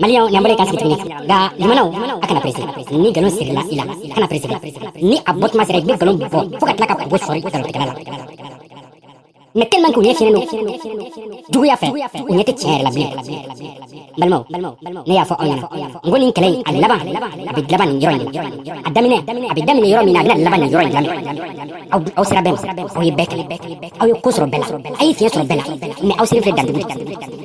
maliyɛn ɲɛ bɔra i kan sigi tuguni nka limanaw a kana perese ni nkalon sirila i la kana perese ni a bɔtuma sera i bɛ nkalon bɔ fo ka tila ka bo sɔri nkalontigɛla la mais tellement k'u ɲɛ finnen don juguya fɛ u ɲɛ tɛ tiɲɛ yɛrɛ la bilen balimaw ne y'a fɔ aw ɲɛna n ko nin kɛlɛ in a laban a bɛ laban nin yɔrɔ in de la a daminɛ a bɛ daminɛ yɔrɔ min na a bɛna laban nin yɔrɔ in de la aw aw sera bɛɛ la aw ye bɛɛ kɛlɛ aw ye ko sɔrɔ bɛɛ la a ye fiɲɛ sɔrɔ bɛɛ la mais aw selen filɛ dandugu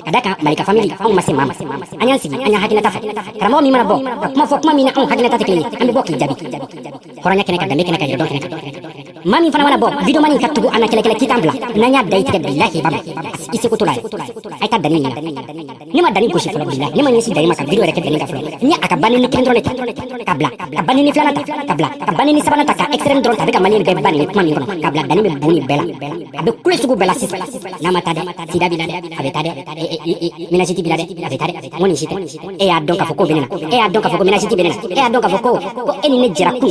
ka d'a kan malika famili anw ma se maa ma an y'an sigi an y'an hakilinata fɔ karamɔgɔ min mana bɔ ka kuma fɔ kuma min na anw hakilinata tɛ kelen ye an bɛ bɔ k'i jaabi hɔrɔnya kɛnɛ kan danbe kɛnɛ kan yɛrɛdɔn kɛnɛ kan maa min fana mana bɔ video mani ka tugu an na kɛlɛkɛlɛ k'i t'an bila n'an y'a da i tigɛ bilahi ba ma i seko to la ye a ye taa dani ɲini na ne ma dani gosi fɔlɔ bilahi ne ma ɲɛsin dani ma ka video yɛrɛ kɛ dani ka fɔlɔ n ye a ka banɛni kelen dɔrɔn de ta ka bila ka banɛni filanan ta ka bila ka banɛni sabanan ta ka extrême dɔrɔn ta a bɛ ka mali bɛɛ ba nɛni kuma min kɔnɔ ka bila dani bɛ bon nin bɛɛ la a bɛ kule sugu bɛɛ la sisan n'a ma taa dɛ sida b'i la dɛ a bɛ taa dɛ minasiti b'i la dɛ a bɛ taa dɛ n ko nin si tɛ e y'a dɔn k'a fɔ ko bɛ ne na e y'a dɔn k'a fɔ ko minasiti bɛ ne na e y'a dɔn k'a fɔ ko ko e ni ne jɛra kun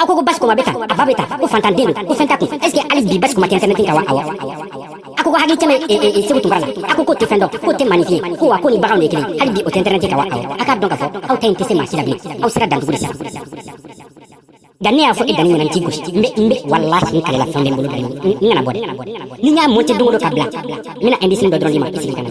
aw ko ko basi kuma bɛ tan a ba bɛ tan ko fantan den don ko fɛn t'a kun est ce que hali bi basi kuma tɛ intɛrɛnɛti kan wa awɔ a ko ko hakili tɛ même seku tunkara la a ko k'o tɛ fɛn dɔn k'o tɛ maaninfin ye ko wa k'o ni baganw de ye kelen hali bi o tɛ intɛrɛnɛti kan wa awɔ a k'a dɔn k'a fɔ aw ta in tɛ se maa si la bilen aw sera dantugu de sisan nka ne y'a fɔ e dani ɲɛna n t'i gosi n bɛ n bɛ walahi n kalela fɛn bɛ n bolo dɔrɔn n kana bɔ dɛ ni n y'a monte don o don ka bila n bɛna indisini dɔ dɔrɔn d'i ma i sigi ka na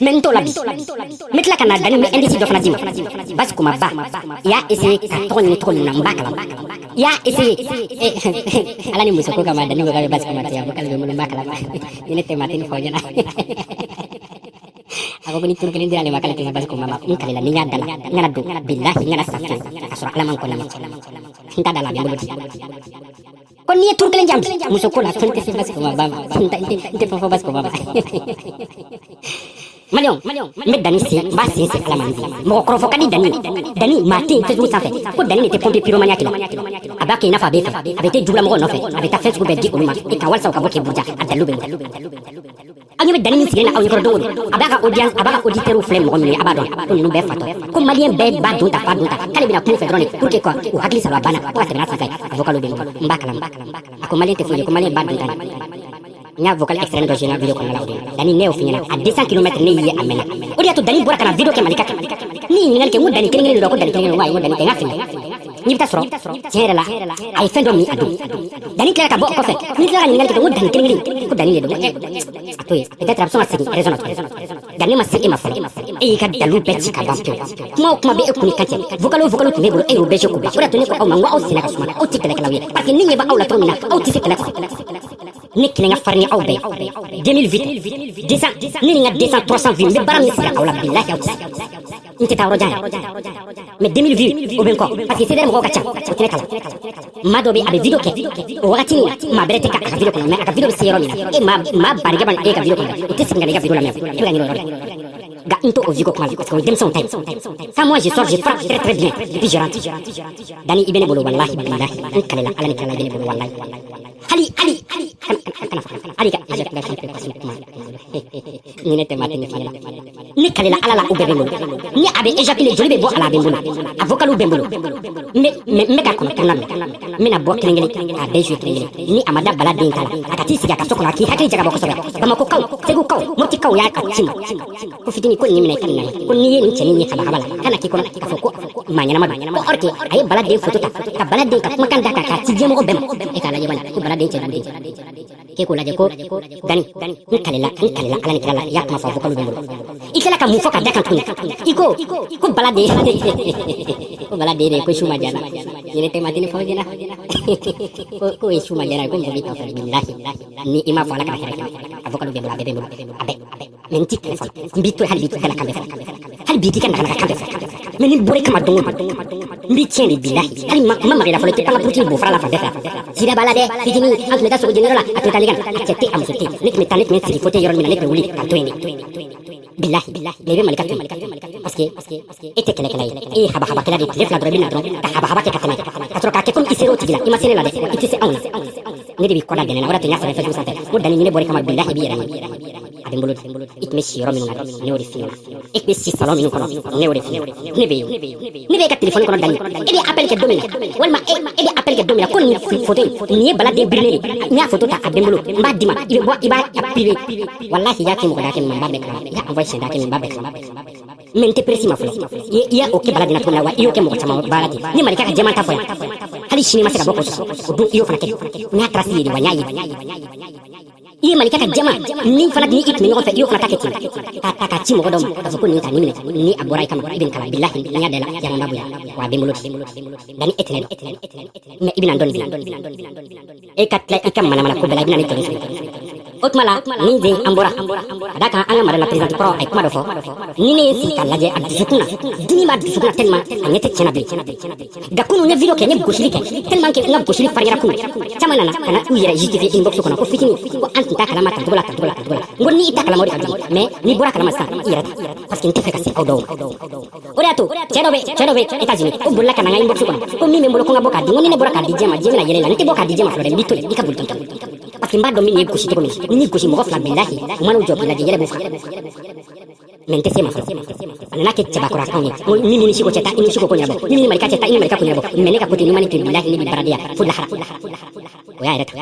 mais n t'o la bi n bɛ tila ka na dani n bɛ indisi dɔ fana d'i ma basi kuma ba i y'a essaye ka tɔgɔ ɲini tɔgɔ min na n b'a kalama i y'a essaye ala ni muso ko kama dani ko k'a bɛ basi kuma tiɲɛ ko k'ale bɛ n bolo n b'a kalama ni ne tɛ maa tɛ nin fɔ n ɲɛna a ko ko ni turu kelen dira ale ma k'ale tɛ n ka basi kuma ma n kalila ni n y'a dala n kana don bilahi n kana sa fiyewu k'a sɔrɔ ala man kɔnɔ n t'a dala a bɛ n bolo ten ko n'i ye turu kelen di n ma muso ko la fɛn tɛ se basi kuma ba ma fɛn tɛ n tɛ fɛn fɔ basi kuma ba ma maliyɛnw n bɛ dani sen n b'a sen sen ala man di mɔgɔ kɔrɔfɔ ka di dani dani maa tɛ yen facebook sanfɛ ko dani de tɛ pompier piromaniya kɛla a b'a kɛ i n'a fɔ a b'e fɛ a bɛ t'i jugulamɔgɔ nɔfɛ a bɛ taa fɛn sugu bɛɛ di olu ma i kan walisa u ka bɔ k'i buruja a dalilu bɛ aw ɲɛ bɛ dani min sigilen na aw ɲɛkɔrɔ don o don a b'a ka audience a b'a ka auditeurs filɛ mɔgɔ minnu ye a b'a dɔn ko ninnu bɛɛ fatɔ ko maliyɛn bɛɛ ba don ta fa don ta k'ale bɛna kuma u fɛ dɔrɔn de pour que quoi u hakili saba banna ko ka tɛmɛ n'a senfɛ a vocal bɛ n bolo n b'a kalama a ko maliyɛn tɛ foyi ye ko maliyɛn ba don ta de n y'a vocal extrême dɔ jouer n ka video kɔnɔna la o don dani ne y'o f'i ɲɛna à 200 kilomètres ne y'i ye a mɛnna o de y'a to dani bɔra ka na video kɛ malika kan ne ye ɲininkali kɛ n ko dani kelen kelen de don ko dani kelen kelen n ko ayi n ko dani tɛ n ka fili n'i bɛ taa sɔrɔ tiɲɛ yɛrɛ la a ye fɛn dɔ min a don dani tilara ka bɔ o kɔfɛ n'i tilara ka ɲininkali kɛ ko dani kelen kelen ko dani de don a to yen peut-être a bɛ sɔn ka segin raison na tuguni dani ma se e ma fɔlɔ e y'i ka dalilu bɛɛ ci ka ban pewu kuma o kuma bɛ e kun ni kan cɛ vocal o vocal tun b'e bolo e y'o bɛɛ ci k'o ban o de y'a to ne ko aw ma n ko aw senna ka suma aw tɛ kɛlɛkɛlaw ye parce que ne ɲɛ bɛ aw la cogo min na aw tɛ se kɛlɛ kɔrɔ ne kelen ka farin ni aw bɛɛ 2008 200 ne ni n ka 200 300 vues n bɛ baara min sigi aw la bilahi aw tɛ se n tɛ taa yɔrɔ jan mɛ 2000 vues o bɛ n kɔ parce que sɛbɛn mɔgɔw ka ca o tɛ kalan maa dɔ bɛ a bɛ video kɛ o wagati ni maa bɛrɛ tɛ ka a ka video kɔnɔ mɛ a ka video bɛ se yɔrɔ min na e maa maa barika bana e ka video kɔnɔ o tɛ segin ka ne ka video lamɛn e bɛ ka ɲinɛ o yɔrɔ nka n t'o vues ko kuma parce que o ye denmisɛnw ta ye ça moi je sors je frappe très très bien et puis je rentre dani i bɛ ne bolo walahi bilahi n kalela ala ni kira la i bɛ ne bolo walahi hali hali hali kana fɔ ali ka éjaculation précoce kuma ni ne tɛ ma tɛmɛ fana ne kalela ala la o bɛɛ bɛ n bolo ni a bɛ éjaculer joli bɛ bɔ a la a bɛ n bolo a vocal bɛ n bolo n bɛ ka kɔnɔ tournant mɛ n bɛna bɔ kelen kelen k'a bɛɛ jouer kelen kelen ni a ma da bala den ta la a ka t'i sigi a ka so kɔnɔ a k'i hakili jagabɔ kosɛbɛ bamakokaw segukaw motikaw y'a ka ci ma ko fitini ko nin minɛ i ka nin ko n'i ye nin cɛnin ye kabakaba la kana k'i kɔnɔ k'a fɔ ko maa ɲɛnama don ko or que a ye bala den foto ta ka bala den ka kumakan da kan k'a ci diɲɛmɔgɔ bɛɛ ma e k'a lajɛ bana ko bala den cɛ den k'e k'o lajɛ ko dani n kalela n kalela ala ni kira la i y'a kuma fɔ vocal bɛ n bolo i tilala ka mun fɔ ka da kan tuguni i ko ko bala den ko bala den de ko su ma jana yɛrɛ tɛ matini fɔ jɛna ko ye su ma jana ye ko mɔgɔ b'i kan fɔ bilahi ni i m'a fɔ ala kana hɛrɛ kɛ a vocal bɛ n bolo a bɛɛ bɛ n bolo a bɛɛ mɛ n t'i kun fɔlɔ n b'i to hali b'i to kana kan bɛɛ fɛ hali b'i t'i ka nagana kan bɛɛ fɛ mɛ ni n bɔr'i kama don o don n b'i tiɲɛ de bilahi hali ma ma magala fɔlɔ i tɛ an ka buruti bo fara la fan bɛɛ fɛ sida b'a la dɛ fitini an tun bɛ taa sogo jɛniyɔrɔ la a tun bɛ taa ne kan a cɛ tɛ a muso tɛ ne tun bɛ taa ne tun bɛ sigi fauteuil yɔrɔ min na ne tun bɛ wuli ka to yen de bilahi mɛ i bɛ malika to yen parce que e tɛ kɛlɛkɛla ye e ye habahabakɛla de tile fila dɔrɔn i bɛ na dɔrɔn ka habahaba kɛ ka tɛmɛ ka sɔrɔ k'a kɛ komi i ser'o tigi la i ma se ne la dɛ i tɛ se anw na ne de b'i kɔda gɛnɛ na o de tun y'a sɛbɛn facebook sanfɛ ko dani ni ne bɔr'i kama bilahi i b'i yɛrɛ ye a bɛ n bolo de i tun bɛ si yɔrɔ minnu na ne y'o de f'i ɲɛna e tun bɛ si salɔn minnu kɔnɔ ne y'o de f'i ɲɛna ne bɛ yen ne bɛ e ka telefɔni kɔnɔ dani e bɛ appel kɛ don min na walima e e bɛ appel kɛ don min na ko nin foto in nin ye bala den birilen de ye n y'a foto ta a bɛ n bolo n b'a d'i ma i bɛ bɔ i b'a privé walahi i y'a kɛ mɔgɔ da kɛ min ma n b'a bɛɛ kalama i y'a envoyé siɲɛ da kɛ min ma n b'a bɛɛ kalama mɛ n tɛ pressé i ma fɔlɔ i y'o kɛ bala den na cogo min wa i y'o kɛ mɔgɔ camanba la ten ni malika ka jɛman ta fɔ yan hali sini ma se ka bɔ kɔsɔ o don i y'o fana kɛ n y'a trace ye de wa n y'a ye i ye malika ka jama ni fana ni i tun bɛ ɲɔgɔn fɛ i y'o fana ta kɛ ten k'a ta k'a ci mɔgɔ dɔ ma k'a fɔ ko nin ta nin minɛ ni a bɔra i kama i bɛ nin k'a la bilahi n y'a da la yaran b'a bonya wa a bɛ n bolo dani e tɛ ne dɔn mɛ i bɛna n dɔn nin e ka tila i ka manamana ko bɛɛ la i bɛna ne tɔɲɔ o tuma la ni den an bɔra ka da kan an ka madame la présidente kɔrɔ a ye kuma dɔ fɔ ni ne ye sigi k'a lajɛ a dusukun na dimi b'a dusukun na tellement a ɲɛ tɛ tiɲɛna bilen nka kunu n ye video kɛ n ye gosili kɛ tellement que n ka gosili fariyara kunu caman nana ka na u yɛrɛ justifier inbox kɔnɔ ko fitini ko an tun t'a kalama tancogo la tancogo la tancogo la n ko ni i t'a kalama o de ka jugu mais n'i bɔra kalama sisan i yɛrɛ ta parce que n tɛ fɛ ka se aw dɔw ma o de y'a to cɛ dɔ bɛ cɛ dɔ bɛ États-Unis o bolila ka na n ka inbox kɔnɔ ko min bɛ n bolo ko n ka bɔ k'a di n ko ni ne bɔra k'a di diɲɛ ma diɲɛ bɛna yɛlɛ la n tɛ bɔ k'a di diɲɛ ma fɔlɔ dɛ n b'i to yen i ka boli tɔntɔn parce que n b'a dɔn n bɛn'i gosi cogo min ni n'i gosi mɔgɔ fila bilahi u man'u jɔ k'i lajɛ yɛlɛ b'u faga mais n tɛ se ma fɔlɔ a nana kɛ cɛbakɔrɔ kan ye ko ni mini siko cɛ ta i ni siko ko ɲɛnabɔ ni mini malika cɛ ta i ni malika ko ɲɛnabɔ mais ne ka kote ɲuman ni to bilahi ne bi baradenya fo lahara o y'a yɛrɛ ta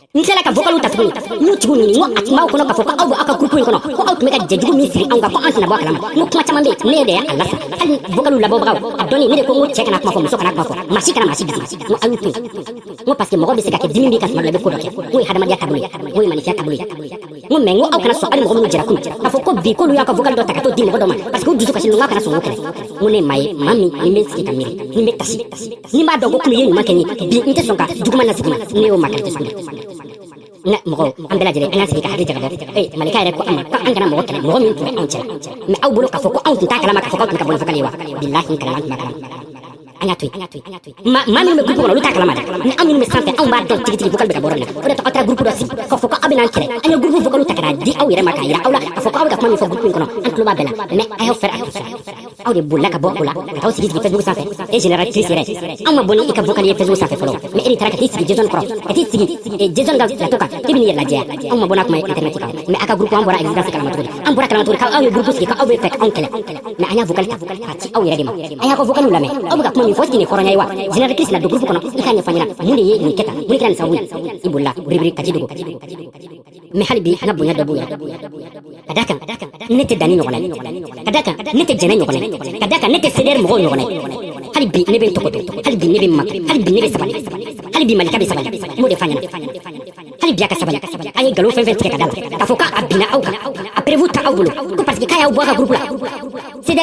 n tilala ka vocaliw ta tuguni n y'u tigiw ɲini n ko a tun b'aw kɔnɔ k'a fɔ ko aw bɛ aw ka groupe in kɔnɔ ko aw tun bɛ ka jɛjugu min siri anw kan ko an tɛna bɔ a kalama n ko kuma caman bɛ yen ne de y'a lasa hali vocaliw labɔbagaw a dɔnni ne de ko n ko cɛ kana kuma fɔ muso kana kuma fɔ maa si kana maa si bisi n ko aw y'u to yen n ko parce que mɔgɔ bɛ se ka kɛ dimi b'i kan tuma dɔ la i bɛ ko dɔ kɛ n k'o ye hadamadenya taabolo ye n k'o ye maaninfinya taabolo ye n ko mais n ko aw kana sɔn hali mɔgɔ minnu jɛra kunun k'a fɔ ko bi k'olu y'a ka vocal dɔ ta ka t'o di mɔgɔ dɔ ma parce que u dusu kasilen don n k'a kana sɔn k'o kɛlɛ n ko ne ye maa ye maa min ni n bɛ sigi ka miiri ni n bɛ taasi ni n b'a dɔn ko kunu i ye ɲuman kɛ n ye bi n tɛ sɔn ka juguman lasegin i ma ne y'o maa qualité sugu de nka mɔgɔw an bɛɛ lajɛlen an k'an sigi ka hakili jagabɔ ee malika yɛrɛ ko an ma ko an kana mɔgɔ kɛlɛ mɔgɔ min tun bɛ anw cɛla mais aw bolo k'a fɔ ko anw tun t'a kalama k'a fɔ k'aw tun bɛ ka bɔ ni vocal ye wa bilahi n kalen an tun b'a kalama an k'a to yen maa maa minnu bɛ groupe kɔnɔ olu t'a kalama dɛ ni an minnu bɛ sanfɛ anw b'a dɔn tigitigi vocal bɛ ka bɔ yɔrɔ min na o de to aw taara groupe dɔ sigi k'a fɔ ko aw bɛna an kɛlɛ an ye groupe vocaliw ta ka n'a di aw yɛrɛ ma k'a jira aw la k'a fɔ ko aw bɛ ka kuma min fɔ groupe in kɔnɔ an tulo b'a bɛɛ la mais a y'aw fɛɛrɛ a y'aw fɛɛrɛ aw de bolila ka bɔ o la ka taa aw sigi sigi facebook sanfɛ e général chris yɛrɛ anw ma bɔ ni i ka vocal ye facebook sanfɛ fɔlɔ mais e de taara ka t'i sigi jason kɔrɔ ka t'i sigi eh, jason ka plateau kan e bɛn'i yɛrɛ lajɛya anw ma bɔ n'a kuma ye internet kan mais a ka groupe an bɔra existence kalama cogo di an bɔra kalama cogo di k'aw ye groupe sigi k'aw bɛ fɛ k'anw kɛlɛ mais an y'a vocal ta k'a ci aw yɛrɛ de ma a y'a ka vocaliw lamɛn aw bɛ ka kuma min fɔ tigi nin hɔrɔnya ye wa général chris na don groupe kɔnɔ i k'a ɲɛfɔ an ɲɛna mun de ye nin kɛ tan mun de kɛra nin sababu ye i bolila biribiri ka t'i dogo mais hali bi an ka bonya dɔ b'u yɛrɛ ka da kan ne tɛ danni ɲɔgɔn ye ka da kan ne tɛ jɛnɛ ɲɔgɔn ye ka da kan ne tɛ cdr mɔgɔw ɲɔgɔn ye hali bi ne bɛ n tɔgɔ dɔn hali bi ne bɛ n ma hali bi ne bɛ sabali hali bi malika bɛ sabali n b'o de f'a ɲɛna Hali bi a ka sabali a ye nkalon fɛn fɛn tigɛ ka da la k'a fɔ k'a binna aw kan a preuve t'aw bolo ko parce que k'a y'aw bɔ a ka groupe la